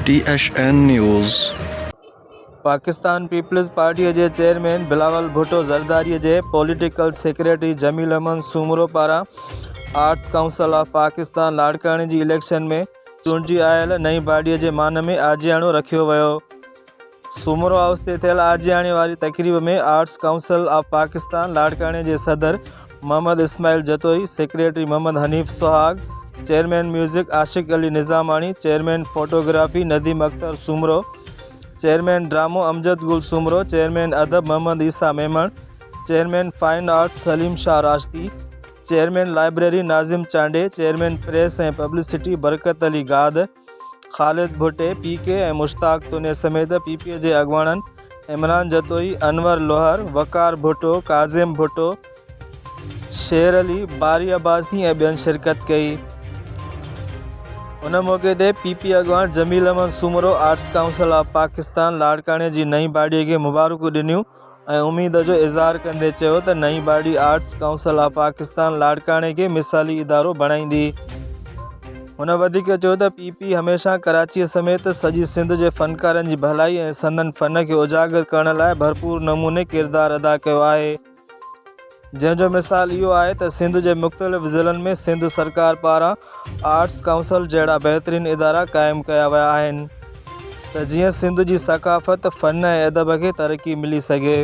ٽي H N news. Pakistan peoples پارٽيء جي chairman Bilawal Bhutto زرداريء جي پوليٽيڪل سيڪريٽري جميل احمد سومرو پاران آرٽس ڪائونسل آف پاڪستان لاڙڪاڻي جي اليڪشن ۾ چونڊجي آيل نئين باڊيء جي مان ۾ آجياڻو رکيو ويو. سومرو هائوس تي ٿيل آجياڻي واري تقريب ۾ آرٽس ڪائونسل آف پاڪستان لاڙڪاڻي جي صدر Muhammad Ismail Jatoi, secretary Muhammad Hanif Suhag, chairman music Ashiq Ali Nizamani, chairman photography Nadeem Akhtar Soomro, chairman ڊرامو امجد گل سومرو، چيئرمين ادب محمد عيسيٰ Memon, chairman fine arts Saleem Shah Rashdi, chairman library Nazim Chandio, chairman press ۽ publicity Barkat Ali Gad, Khalid Bhatti, P K, ۽ Mushtaq Toni سميت پي پي جي اڳواڻن عمران جتوئي، انور لوهر، وقار ڀٽو، ڪاظم ڀٽو، شير علي، باري عباسي ۽ ٻين شرڪت ڪئي. ان موقعي تي پي پي اڳواڻ Jamil Ahmed Soomro arts council of Pakistan لاڙڪاڻي جي نئين باڊي کي مبارڪون ڏنيون. ۽ اميد جو اظهار ڪندي چيو ته نئين body arts council of Pakistan لاڙڪاڻي کي مثالي ادارو بڻائيندي. هن وڌيڪ چيو ته پي پي هميشه ڪراچي سميت سڄي سنڌ جي فنڪارن جي ڀلائي ۽ سندن فن کي اجاگر ڪرڻ لاء ڀرپور نموني ڪردار ادا ڪيو آهي. جنهن جو مثال اهو آهي ته سنڌ جي مختلف ضلعن ۾ سنڌ سرڪار پاران آرٽس ڪائونسل جهڙا بهترين ادارا قائم ڪيا ويا آهن ته جيئن سنڌ جي ثقافت، فن ۽ ادب کي ترقي ملي سگهي.